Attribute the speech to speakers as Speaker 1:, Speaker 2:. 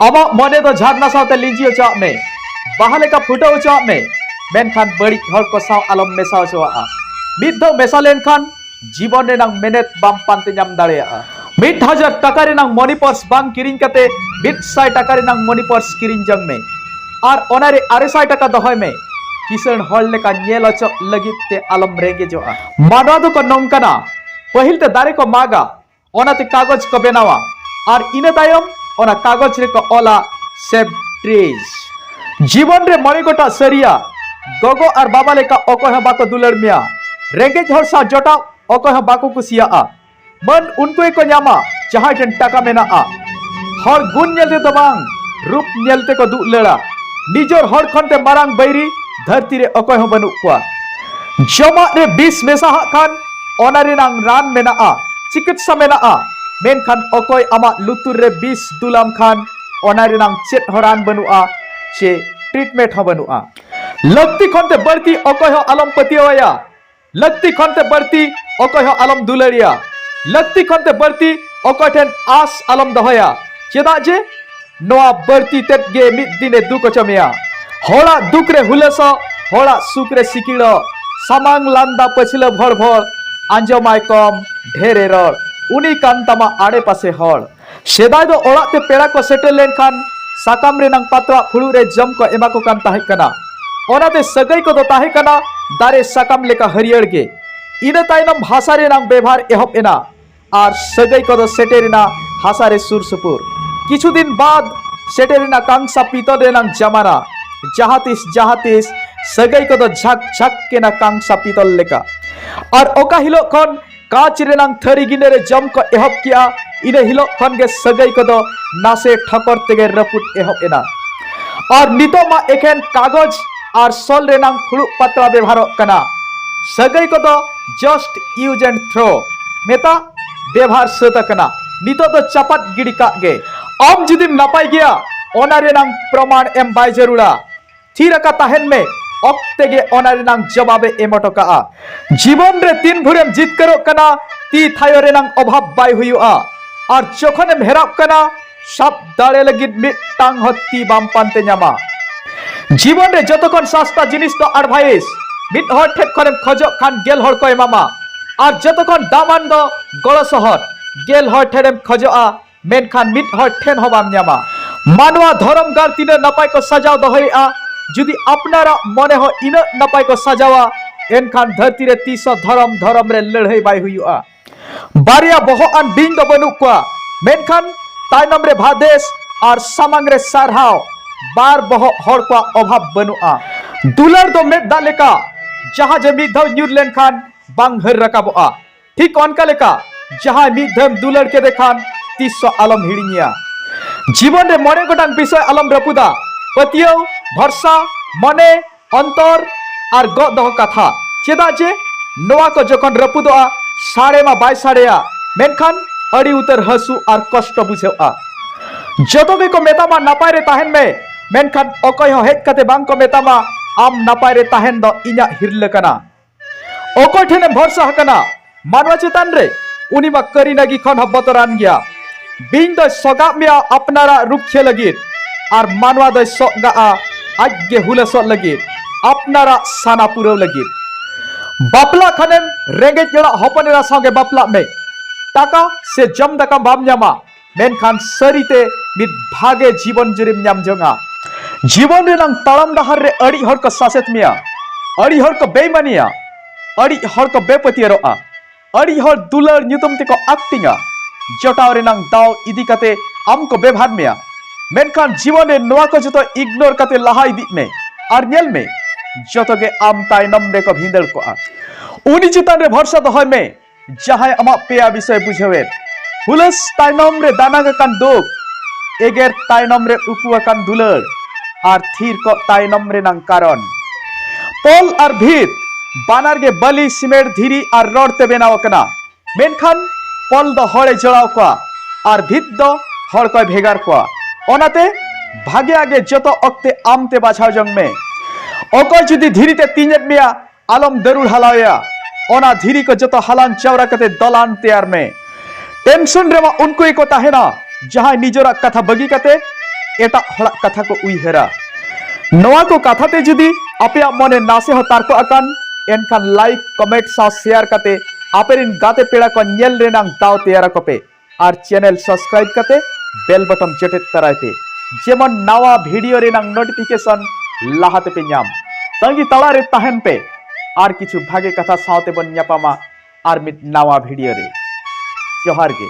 Speaker 1: ᱟᱢᱟᱜ ᱢᱚᱱᱮ ᱫᱚ ᱡᱷᱟᱨᱱᱟ ᱥᱟᱶᱛᱮ ᱞᱤᱸᱡᱤ ᱚᱪᱚᱣᱟᱜ ᱢᱮ ᱵᱟᱦᱟ ᱞᱮᱠᱟ ᱯᱷᱩᱴᱟᱹᱣ ᱚᱪᱚᱣᱟᱜ ᱢᱮ ᱢᱮᱱᱠᱷᱟᱱ ᱵᱟᱹᱲᱤᱡ ᱦᱚᱲ ᱠᱚ ᱥᱟᱶ ᱟᱞᱚᱢ ᱢᱮᱥᱟ ᱚᱪᱚᱣᱟᱜᱼᱟ ᱢᱤᱫ ᱫᱷᱟᱣ ᱢᱮᱥᱟ ᱞᱮᱱᱠᱷᱟᱱ ᱡᱤᱵᱚᱱ ᱨᱮᱱᱟᱜ ᱢᱮᱱᱮᱛ ᱵᱟᱢ ᱯᱟᱱᱛᱮ ᱧᱟᱢ ᱫᱟᱲᱮᱭᱟᱜᱼᱟ ᱢᱤᱫ ᱦᱟᱡᱟᱨ ᱴᱟᱠᱟ ᱨᱮᱱᱟᱜ ᱢᱚᱱᱤ ᱯᱟᱨᱥ ᱵᱟᱝ ᱠᱤᱨᱤᱧ ᱠᱟᱛᱮ ᱢᱤᱫ ᱥᱟᱭ ᱴᱟᱠᱟ ᱨᱮᱱᱟᱜ ᱢᱚᱱᱤ ᱯᱟᱨᱥ ᱠᱤᱨᱤᱧ ᱡᱚᱝ ᱢᱮ ᱟᱨ ᱚᱱᱟ ᱨᱮ ᱟᱨᱮ ᱥᱟᱭ ᱴᱟᱠᱟ ᱫᱚᱦᱚᱭ ᱢᱮ ᱠᱤᱥᱟᱹᱬ ᱦᱚᱲ ᱞᱮᱠᱟ ᱧᱮᱞ ᱚᱪᱚᱜ ᱞᱟᱹᱜᱤᱫ ᱛᱮ ᱟᱞᱚᱢ ᱨᱮᱸᱜᱮᱡᱚᱜᱼᱟ ᱢᱟᱱᱣᱟ ᱫᱚᱠᱚ ᱱᱚᱝᱠᱟᱱᱟ ᱯᱟᱹᱦᱤᱞ ᱛᱮ ᱫᱟᱨᱮ ᱠᱚ ᱢᱟᱜᱟ ᱚᱱᱟᱛᱮ ᱠᱟᱜᱚᱡᱽ ᱠᱚ ᱵᱮᱱᱟᱣᱟ ᱟᱨ ᱤᱱᱟᱹ ᱛᱟᱭᱚᱢ ᱚᱱᱟ ᱠᱟᱜᱚᱡᱽ ᱨᱮᱠᱚ ᱚᱞᱟ ᱥᱮᱵᱷ ᱴᱨᱮᱡᱽ ᱡᱤᱵᱚᱱ ᱨᱮ ᱢᱚᱬᱮ ᱜᱚᱴᱟᱜ ᱥᱟᱹᱨᱤᱭᱟ ᱜᱚᱜᱚ ᱟᱨ ᱵᱟᱵᱟ ᱞᱮᱠᱟ ᱚᱠᱚᱭ ᱦᱚᱸ ᱵᱟᱠᱚ ᱫᱩᱞᱟᱹᱲ ᱢᱮᱭᱟ ᱨᱮᱸᱜᱮᱡ ᱦᱚᱲ ᱥᱟᱶ ᱡᱚᱴᱟᱣ ᱚᱠᱚᱭ ᱦᱚᱸ ᱵᱟᱠᱚ ᱠᱩᱥᱤᱭᱟᱜᱼᱟ ᱢᱟᱹᱱ ᱩᱱᱠᱩ ᱜᱮᱠᱚ ᱧᱟᱢᱟ ᱡᱟᱦᱟᱸᱭ ᱴᱷᱮᱱ ᱴᱟᱠᱟ ᱢᱮᱱᱟᱜᱼᱟ ᱦᱚᱲ ᱜᱩᱱ ᱧᱮᱞ ᱛᱮᱫᱚ ᱵᱟᱝ ᱨᱩᱯ ᱧᱮᱞ ᱛᱮᱠᱚ ᱫᱩᱞᱟᱹᱲᱟ ᱱᱤᱡᱚᱨ ᱦᱚᱲ ᱠᱷᱚᱱ ᱛᱮ ᱢᱟᱨᱟᱝ ᱵᱟᱹᱭᱨᱤ ᱫᱷᱟᱹᱨᱛᱤ ᱨᱮ ᱚᱠᱚᱭ ᱦᱚᱸ ᱵᱟᱹᱱᱩᱜ ᱠᱚᱣᱟ ᱡᱚᱢᱟᱜ ᱨᱮ ᱵᱤᱥ ᱢᱮᱥᱟ ᱦᱟᱜ ᱠᱷᱟᱱ ᱚᱱᱟ ᱨᱮᱱᱟᱝ ᱨᱟᱱ ᱢᱮᱱᱟᱜᱼᱟ ᱪᱤᱠᱤᱛᱥᱟ ᱢᱮᱱᱟᱜᱼᱟ ᱢᱮᱱᱠᱷᱟᱱ ᱚᱠᱚᱭ ᱟᱢᱟᱜ ᱞᱩᱛᱩᱨ ᱨᱮ ᱵᱤᱥ ᱫᱩᱞᱟᱢ ᱠᱷᱟᱱ ᱚᱱᱟ ᱨᱮᱱᱟᱝ ᱪᱮᱫ ᱦᱚᱸ ᱨᱟᱱ ᱵᱟᱹᱱᱩᱜᱼᱟ ᱪᱮ ᱴᱨᱤᱴᱢᱮᱱᱴ ᱦᱚᱸ ᱵᱟᱹᱱᱩᱜᱼᱟ ᱞᱟᱹᱠᱛᱤ ᱠᱷᱚᱱ ᱛᱮ ᱵᱟᱹᱲᱛᱤ ᱚᱠᱚᱭ ᱦᱚᱸ ᱟᱞᱚᱢ ᱯᱟᱹᱛᱭᱟᱹᱣᱟᱭᱟ ᱞᱟᱹᱠᱛᱤ ᱠᱷᱚᱱ ᱛᱮ ᱵᱟᱹᱲᱛᱤ ᱚᱠᱚᱭ ᱦᱚᱸ ᱟᱞᱚᱢ ᱫᱩᱞᱟᱹᱲᱤᱭᱟ ᱞᱟᱹᱠᱛᱤ ᱠᱷᱚᱱ ᱛᱮ ᱵᱟᱹᱲᱛᱤ ᱚᱠᱚᱭ ᱴᱷᱮᱱ ᱟᱥ ᱟᱞᱚᱢ ᱫᱚᱦᱚᱭᱟ ᱪᱮᱫᱟᱜ ᱡᱮ ᱱᱚᱣᱟ ᱵᱟᱹᱲᱛᱤ ᱛᱮᱫ ᱜᱮ ᱢᱤᱫ ᱫᱤᱱᱮ ᱫᱩᱠ ᱦᱚᱪᱚ ᱢᱮᱭᱟ ᱦᱚᱲᱟᱜ ᱫᱩᱠ ᱨᱮ ᱦᱩᱞᱟᱹᱥᱚᱜ ᱦᱚᱲᱟᱜ ᱥᱩᱠ ᱨᱮ ᱥᱤᱠᱤᱲᱚᱜ ᱥᱟᱢᱟᱝ ᱞᱟᱸᱫᱟ ᱯᱟᱹᱪᱷᱞᱟᱹ ᱵᱷᱚᱲ ᱵᱷᱚᱲ ᱟᱸᱡᱚᱢᱟᱭ ᱠᱚᱢ ᱰᱷᱮᱨᱮ ᱨᱚᱲ ᱩᱱᱤ ᱠᱟᱱ ᱛᱟᱢᱟ ᱟᱲᱮ ᱯᱟᱥᱮ ᱦᱚᱲ ᱥᱮᱫᱟᱭ ᱫᱚ ᱚᱲᱟᱜ ᱛᱮ ᱯᱮᱲᱟ ᱠᱚ ᱥᱮᱴᱮᱨ ᱞᱮᱱᱠᱷᱟᱱ ᱥᱟᱠᱟᱢ ᱨᱮᱱᱟᱝ ᱯᱟᱛᱲᱟ ᱯᱷᱩᱲᱩᱜ ᱨᱮ ᱡᱚᱢ ᱠᱚ ᱮᱢᱟ ᱠᱚ ᱠᱟᱱ ᱛᱟᱦᱮᱸ ᱠᱟᱱᱟ ᱚᱱᱟᱛᱮ ᱥᱟᱹᱜᱟᱹᱭ ᱠᱚᱫᱚ ᱛᱟᱦᱮᱸ ᱠᱟᱱᱟ ᱫᱟᱨᱮ ᱥᱟᱠᱟᱢ ᱞᱮᱠᱟ ᱦᱟᱹᱨᱭᱟᱹᱲ ᱜᱮ ᱤᱱᱟᱹ ᱛᱟᱭᱱᱚᱢ ᱵᱷᱟᱥᱟ ᱨᱮᱱᱟᱝ ᱵᱮᱵᱷᱟᱨ ᱮᱦᱚᱵ ᱮᱱᱟ ᱟᱨ ᱥᱟᱹᱜᱟᱹᱭ ᱠᱚᱫᱚ ᱥᱮᱴᱮᱨᱮᱱᱟ ᱦᱟᱥᱟ ᱨᱮ ᱥᱩᱨ ᱥᱩᱯᱩᱨ ᱠᱤᱪᱷᱩ ᱫᱤᱱ ᱵᱟᱫ ᱥᱮᱴᱮᱨᱮᱱᱟ ᱠᱟᱝᱥᱟ ᱯᱤᱛᱚᱞ ᱨᱮᱱᱟᱝ ᱡᱟᱢᱟᱱᱟ ᱡᱟᱦᱟᱸ ᱛᱤᱥ ᱡᱟᱦᱟᱸ ᱛᱤᱥ ᱥᱟᱹᱜᱟᱹᱭ ᱠᱚᱫᱚ ᱡᱷᱟᱠ ᱡᱷᱟᱠ ᱠᱮᱱᱟ ᱠᱟᱝᱥᱟ ᱯᱤᱛᱚᱞ ᱞᱮᱠᱟ ᱟᱨ ᱚᱠᱟ ᱦᱤᱞᱳᱜ ᱠᱷᱚᱱ ᱠᱟᱸᱪ ᱨᱮᱱᱟᱝ ᱛᱷᱟᱹᱨᱤ ᱜᱤᱱᱟᱹ ᱨᱮ ᱡᱚᱢ ᱠᱚ ᱮᱦᱚᱵ ᱠᱮᱜᱼᱟ ᱤᱱᱟᱹ ᱦᱤᱞᱳᱜ ᱠᱷᱚᱱ ᱜᱮ ᱥᱟᱹᱜᱟᱹᱭ ᱠᱚᱫᱚ ᱱᱟᱥᱮ ᱴᱷᱚᱠᱚᱨ ᱛᱮᱜᱮ ᱨᱟᱹᱯᱩᱫ ᱮᱦᱚᱵ ᱮᱱᱟ ᱟᱨ ᱱᱤᱛᱚᱜ ᱢᱟ ᱮᱠᱷᱮᱱ ᱠᱟᱜᱚᱡᱽ ᱟᱨ ᱥᱚᱞ ᱨᱮᱱᱟᱝ ᱯᱷᱩᱲᱩᱜ ᱯᱟᱛᱲᱟ ᱵᱮᱵᱷᱟᱨᱚᱜ ᱠᱟᱱᱟ ᱥᱟᱹᱜᱟᱹᱭ ᱠᱚᱫᱚ ᱡᱟᱥᱴ ᱤᱭᱩᱡ ᱮᱱᱰ ᱛᱷᱨᱳ ᱢᱮᱛᱟ ᱵᱮᱵᱷᱟᱨ ᱥᱟᱹᱛ ᱟᱠᱟᱱᱟ ᱱᱤᱛᱚᱜ ᱫᱚ ᱪᱟᱯᱟᱫ ᱜᱤᱰᱤ ᱠᱟᱜ ᱜᱮ ᱟᱢ ᱡᱩᱫᱤᱢ ᱱᱟᱯᱟᱭ ᱜᱮᱭᱟ ᱚᱱᱟ ᱨᱮᱱᱟᱝ ᱯᱨᱚᱢᱟᱬ ᱮᱢ ᱵᱟᱭ ᱡᱟᱹᱨᱩᱲᱟ ᱛᱷᱤᱨ ᱟᱠᱟ ᱛᱟᱦᱮᱱ ᱢᱮ ᱚᱠᱛᱮ ᱜᱮ ᱚᱱᱟ ᱨᱮᱱᱟᱝ ᱡᱚᱵᱟᱵ ᱮ ᱮᱢ ᱦᱚᱴᱚ ᱠᱟᱜᱼᱟ ᱡᱤᱵᱚᱱ ᱨᱮ ᱛᱤᱱ ᱵᱷᱳᱨᱮᱢ ᱡᱤᱛᱠᱟᱹᱨᱚᱜ ᱠᱟᱱᱟ ᱛᱤ ᱛᱷᱟᱭᱚ ᱨᱮᱱᱟᱝ ᱚᱵᱷᱟᱵ ᱵᱟᱭ ᱦᱩᱭᱩᱜᱼᱟ ᱟᱨ ᱡᱚᱠᱷᱚᱱᱮᱢ ᱦᱮᱨᱟᱜ ᱠᱟᱱᱟ ᱥᱟᱵ ᱫᱟᱲᱮ ᱞᱟᱹᱜᱤᱫ ᱢᱤᱫᱴᱟᱝ ᱦᱚᱛᱤ ᱵᱟᱢ ᱯᱟᱱᱛᱮ ᱧᱟᱢᱟ ᱡᱤᱵᱚᱱ ᱨᱮ ᱡᱚᱛᱚ ᱠᱷᱚᱱ ᱥᱟᱥᱛᱟ ᱡᱤᱱᱤᱥ ᱫᱚ ᱟᱰᱵᱷᱟᱭᱤᱥ ᱢᱤᱫ ᱦᱚᱲ ᱴᱷᱮᱱ ᱠᱷᱚᱱᱮᱢ ᱠᱷᱚᱡᱚᱜ ᱠᱷᱟᱱ ᱜᱮᱞ ᱦᱚᱲ ᱠᱚ ᱮᱢᱟᱢᱟ ᱟᱨ ᱡᱚᱛᱚ ᱠᱷᱚᱱ ᱫᱟᱢᱟᱱ ᱫᱚ ᱜᱚᱲᱚ ᱥᱚᱦᱚᱫ ᱜᱮᱞ ᱦᱚᱲ ᱴᱷᱮᱱᱮᱢ ᱠᱷᱚᱡᱚᱜᱼᱟ ᱢᱮᱱᱠᱷᱟᱱ ᱢᱤᱫ ᱦᱚᱲ ᱴᱷᱮᱱ ᱦᱚᱸ ᱵᱟᱢ ᱧᱟᱢᱟ ᱢᱟᱱᱣᱟ ᱫᱷᱚᱨᱚᱢ ᱜᱟᱲ ᱛᱤᱱᱟᱹᱜ ᱱᱟᱯᱟᱭ ᱠᱚ ᱥᱟᱡᱟᱣ ᱫᱚᱦᱚᱭᱮᱫᱼᱟ ᱡᱩᱫᱤ ᱟᱯᱱᱟᱨᱟᱜ ᱢᱚᱱᱮ ᱦᱚᱸ ᱤᱱᱟᱹᱜ ᱱᱟᱯᱟᱭ ᱠᱚ ᱥᱟᱡᱟᱣᱟ ᱮᱱᱠᱷᱟᱱ ᱫᱷᱟᱹᱨᱛᱤ ᱨᱮ ᱛᱤᱥ ᱦᱚᱸ ᱫᱷᱚᱨᱚᱢ ᱫᱷᱚᱨᱚᱢ ᱨᱮ ᱞᱟᱹᱲᱦᱟᱹᱭ ᱵᱟᱭ ᱦᱩᱭᱩᱜᱼᱟ ᱵᱟᱨᱭᱟ ᱵᱚᱦᱚᱜ ᱟᱱ ᱵᱤᱧ ᱫᱚ ᱵᱟᱹᱱᱩᱜ ᱠᱚᱣᱟ ᱢᱮᱱᱠᱷᱟᱱ ᱛᱟᱭᱱᱚᱢ ᱨᱮ ᱵᱷᱟᱫᱮᱥ ᱟᱨ ᱥᱟᱢᱟᱝ ᱨᱮ ᱥᱟᱨᱦᱟᱣ ᱵᱟᱨ ᱵᱚᱦᱚᱜ ᱦᱚᱲ ᱠᱚᱣᱟᱜ ᱚᱵᱷᱟᱵ ᱵᱟᱹᱱᱩᱜᱼᱟ ᱫᱩᱞᱟᱹᱲ ᱫᱚ ᱢᱮᱫ ᱫᱟᱜ ᱞᱮᱠᱟ ᱡᱟᱦᱟᱸ ᱡᱮ ᱢᱤᱫ ᱫᱷᱟᱣ ᱧᱩᱨ ᱞᱮᱱᱠᱷᱟᱱ ᱵᱟᱝ ᱦᱟᱹᱨ ᱨᱟᱠᱟᱵᱚᱜᱼᱟ ᱴᱷᱤᱠ ᱚᱱᱠᱟ ᱞᱮᱠᱟ ᱡᱟᱦᱟᱸᱭ ᱢᱤᱫ ᱫᱷᱟᱣ ᱫᱩᱞᱟᱹᱲ ᱠᱮᱫᱮ ᱠᱷᱟᱱ ᱛᱤᱥ ᱦᱚᱸ ᱟᱞᱚᱢ ᱦᱤᱲᱤᱧᱮᱭᱟ ᱡᱤᱵᱚᱱ ᱨᱮ ᱢᱚᱬᱮ ᱜᱚᱴᱟᱝ ᱵᱤᱥᱚᱭ ᱟᱞᱚᱢ ᱨᱟᱹᱯᱩᱫᱟ ᱯᱟᱹᱛᱭᱟᱹᱣ ᱵᱷᱚᱨᱥᱟ ᱢᱚᱱᱮ ᱚᱱᱛᱚᱨ ᱟᱨ ᱜᱚᱜ ᱫᱚᱦᱚ ᱠᱟᱛᱷᱟ ᱪᱮᱫᱟᱜ ᱡᱮ ᱱᱚᱣᱟ ᱠᱚ ᱡᱚᱠᱷᱚᱱ ᱨᱟᱹᱯᱩᱫᱚᱜᱼᱟ ᱥᱟᱲᱮ ᱢᱟ ᱵᱟᱭ ᱥᱟᱲᱮᱭᱟ ᱢᱮᱱᱠᱷᱟᱱ ᱟᱹᱰᱤ ᱩᱛᱟᱹᱨ ᱦᱟᱹᱥᱩ ᱟᱨ ᱠᱚᱥᱴᱚ ᱵᱩᱡᱷᱟᱹᱜᱼᱟ ᱡᱚᱛᱚ ᱜᱮᱠᱚ ᱢᱮᱛᱟᱢᱟ ᱱᱟᱯᱟᱭ ᱨᱮ ᱛᱟᱦᱮᱱ ᱢᱮ ᱢᱮᱱᱠᱷᱟᱱ ᱚᱠᱚᱭ ᱦᱚᱸ ᱦᱮᱡ ᱠᱟᱛᱮ ᱵᱟᱝ ᱠᱚ ᱢᱮᱛᱟᱢᱟ ᱟᱢ ᱱᱟᱯᱟᱭ ᱨᱮ ᱛᱟᱦᱮᱱ ᱫᱚ ᱤᱧᱟᱹᱜ ᱦᱤᱨᱞᱟᱹ ᱠᱟᱱᱟ ᱚᱠᱚᱭ ᱴᱷᱮᱱ ᱮᱢ ᱵᱷᱚᱨᱥᱟ ᱟᱠᱟᱱᱟ ᱢᱟᱱᱣᱟ ᱪᱮᱛᱟᱱ ᱨᱮ ᱩᱱᱤ ᱢᱟ ᱠᱟᱹᱨᱤ ᱱᱟᱹᱜᱤ ᱠᱷᱚᱱ ᱦᱚᱸ ᱵᱚᱛᱚᱨᱟᱱ ᱜᱮᱭᱟ ᱵᱤᱧ ᱫᱚᱭ ᱥᱚᱜᱟᱜ ᱢᱮᱭᱟ ᱟᱯᱱᱟᱨᱟᱜ ᱨᱩᱠᱷᱤᱭᱟᱹ ᱞᱟᱹᱜᱤᱫ ᱟᱨ ᱢᱟᱱᱣᱟ ᱫᱚᱭ ᱥᱚᱜᱟᱜᱼᱟ ᱟᱡ ᱜᱮ ᱦᱩᱞᱟᱹᱥᱚᱜ ᱞᱟᱹᱜᱤᱫ ᱟᱯᱱᱟᱨᱟᱜ ᱥᱟᱱᱟ ᱯᱩᱨᱟᱹᱣ ᱞᱟᱹᱜᱤᱫ ᱵᱟᱯᱞᱟ ᱠᱷᱟᱱᱮᱢ ᱨᱮᱸᱜᱮᱡ ᱚᱲᱟᱜ ᱦᱚᱯᱚᱱ ᱮᱨᱟ ᱥᱟᱶᱜᱮ ᱵᱟᱯᱞᱟᱜ ᱢᱮ ᱴᱟᱠᱟ ᱥᱮ ᱡᱚᱢ ᱫᱟᱠᱟ ᱵᱟᱢ ᱧᱟᱢᱟ ᱢᱮᱱᱠᱷᱟᱱ ᱥᱟᱹᱨᱤᱛᱮ ᱢᱤᱫ ᱵᱷᱟᱜᱮ ᱡᱤᱵᱚᱱ ᱡᱩᱨᱤᱢ ᱧᱟᱢ ᱡᱚᱝᱟ ᱡᱤᱵᱚᱱ ᱨᱮᱱᱟᱝ ᱛᱟᱲᱟᱢ ᱰᱟᱦᱟᱨ ᱨᱮ ᱟᱹᱰᱤ ᱦᱚᱲ ᱠᱚ ᱥᱟᱥᱮᱛ ᱢᱮᱭᱟ ᱟᱹᱰᱤ ᱦᱚᱲ ᱠᱚ ᱵᱮᱭᱢᱟᱱᱤᱭᱟ ᱟᱹᱰᱤ ᱦᱚᱲ ᱠᱚ ᱵᱮᱯᱟᱹᱛᱭᱟᱹᱨᱚᱜᱼᱟ ᱟᱹᱰᱤ ᱦᱚᱲ ᱫᱩᱞᱟᱹᱲ ᱧᱩᱛᱩᱢ ᱛᱮᱠᱚ ᱟᱠᱴᱤᱝᱟ ᱡᱚᱴᱟᱣ ᱨᱮᱱᱟᱝ ᱫᱟᱣ ᱤᱫᱤ ᱠᱟᱛᱮ ᱟᱢ ᱠᱚ ᱵᱮᱵᱷᱟᱨ ᱢᱮᱭᱟ ᱢᱮᱱᱠᱷᱟᱱ ᱡᱤᱵᱚᱱ ᱨᱮ ᱱᱚᱣᱟ ᱠᱚ ᱡᱚᱛᱚ ᱤᱜᱱᱳᱨ ᱠᱟᱛᱮ ᱞᱟᱦᱟ ᱤᱫᱤᱜ ᱢᱮ ᱟᱨ ᱧᱮᱞ ᱢᱮ ᱡᱚᱛᱚ ᱜᱮ ᱟᱢ ᱛᱟᱭᱱᱚᱢ ᱨᱮᱠᱚ ᱵᱷᱤᱸᱫᱟᱹᱲ ᱠᱚᱜᱼᱟ ᱩᱱᱤ ᱪᱮᱛᱟᱱ ᱨᱮ ᱵᱷᱚᱨᱥᱟ ᱫᱚᱦᱚᱭ ᱢᱮ ᱡᱟᱦᱟᱸᱭ ᱟᱢᱟᱜ ᱯᱮᱭᱟ ᱵᱤᱥᱚᱭ ᱵᱩᱡᱷᱟᱹᱣᱮᱫ ᱦᱩᱞᱟᱹᱥ ᱛᱟᱭᱱᱚᱢ ᱨᱮ ᱫᱟᱱᱟᱜ ᱟᱠᱟᱱ ᱫᱩᱠ ᱮᱜᱮᱨ ᱛᱟᱭᱱᱚᱢ ᱨᱮ ᱩᱠᱩ ᱟᱠᱟᱱ ᱫᱩᱞᱟᱹᱲ ᱟᱨ ᱛᱷᱤᱨ ᱠᱚᱜ ᱛᱟᱭᱱᱚᱢ ᱨᱮᱱᱟᱝ ᱠᱟᱨᱚᱱ ᱛᱚᱞ ᱟᱨ ᱵᱷᱤᱛ ᱵᱟᱱᱟᱨ ᱜᱮ ᱵᱟᱹᱞᱤ ᱥᱤᱢᱮᱱᱴ ᱫᱷᱤᱨᱤ ᱟᱨ ᱨᱚᱲ ᱛᱮ ᱵᱮᱱᱟᱣ ᱟᱠᱟᱱᱟ ᱢᱮᱱᱠᱷᱟᱱ ᱛᱚᱞ ᱫᱚ ᱦᱚᱲᱮ ᱡᱚᱲᱟᱣ ᱠᱚᱣᱟ ᱟᱨ ᱵᱷᱤᱛ ᱫᱚ ᱦᱚᱲ ᱠᱚᱭ ᱵᱷᱮᱜᱟᱨ ᱠᱚᱣᱟ ᱚᱱᱟᱛᱮ ᱵᱷᱟᱜᱮᱭᱟᱜ ᱜᱮ ᱡᱚᱛᱚ ᱚᱠᱛᱮ ᱟᱢᱛᱮ ᱵᱟᱪᱷᱟᱣ ᱡᱚᱝ ᱢᱮ ᱚᱠᱚᱭ ᱡᱩᱫᱤ ᱫᱷᱤᱨᱤ ᱛᱮ ᱛᱤᱧᱮᱫ ᱢᱮᱭᱟ ᱟᱞᱚᱢ ᱫᱟᱹᱨᱩᱲ ᱦᱟᱞᱟᱣᱮᱭᱟ ᱚᱱᱟ ᱫᱷᱤᱨᱤ ᱠᱚ ᱡᱚᱛᱚ ᱦᱟᱞᱟᱝ ᱪᱟᱣᱨᱟ ᱠᱟᱛᱮ ᱫᱟᱞᱟᱱ ᱛᱮᱭᱟᱨ ᱢᱮ ᱴᱮᱱᱥᱚᱱ ᱨᱮᱢᱟ ᱩᱱᱠᱩ ᱜᱮᱠᱚ ᱛᱟᱦᱮᱱᱟ ᱡᱟᱦᱟᱸᱭ ᱱᱤᱡᱚᱨᱟᱜ ᱠᱟᱛᱷᱟ ᱵᱟᱹᱜᱤ ᱠᱟᱛᱮ ᱮᱴᱟᱜ ᱦᱚᱲᱟᱜ ᱠᱟᱛᱷᱟ ᱠᱚ ᱩᱭᱦᱟᱹᱨᱟ ᱱᱚᱣᱟ ᱠᱚ ᱠᱟᱛᱷᱟ ᱛᱮ ᱡᱩᱫᱤ ᱟᱯᱮᱭᱟᱜ ᱢᱚᱱᱮ ᱱᱟᱥᱮ ᱦᱚᱸ ᱛᱟᱨᱠᱚ ᱟᱠᱟᱱ ᱮᱱᱠᱷᱟᱱ ᱞᱟᱭᱤᱠ ᱠᱚᱢᱮᱱᱴ ᱥᱟᱶ ᱥᱮᱭᱟᱨ ᱠᱟᱛᱮ ᱟᱯᱮᱨᱮᱱ ᱜᱟᱛᱮ ᱯᱮᱲᱟ ᱠᱚ ᱧᱮᱞ ᱨᱮᱱᱟᱜ ᱫᱟᱣ ᱛᱮᱭᱟᱨ ᱟᱠᱚᱯᱮ ᱟᱨ ᱪᱮᱱᱮᱞ ᱥᱟᱵᱥᱠᱨᱟᱭᱤᱵ ᱠᱟᱛᱮ ᱵᱮᱞ ᱵᱚᱴᱚᱢ ᱡᱮᱴᱮᱫ ᱛᱟᱨᱟᱭ ᱯᱮ ᱡᱮᱢᱚᱱ ᱱᱟᱣᱟ ᱵᱷᱤᱰᱤᱭᱳ ᱨᱮᱱᱟᱜ ᱱᱳᱴᱤᱯᱷᱤᱠᱮᱥᱚᱱ ᱞᱟᱦᱟ ᱛᱮᱯᱮ ᱧᱟᱢ ᱛᱟᱺᱜᱤ ᱛᱟᱲᱟ ᱨᱮ ᱛᱟᱦᱮᱱ ᱯᱮ ᱟᱨ ᱠᱤᱪᱷᱩ ᱵᱷᱟᱜᱮ ᱠᱟᱛᱷᱟ ᱥᱟᱶᱛᱮ ᱵᱚᱱ ᱧᱟᱯᱟᱢᱟ ᱟᱨ ᱢᱤᱫ ᱱᱟᱣᱟ ᱵᱷᱤᱰᱤᱭᱳ ᱨᱮ ᱡᱚᱦᱟᱨ ᱜᱮ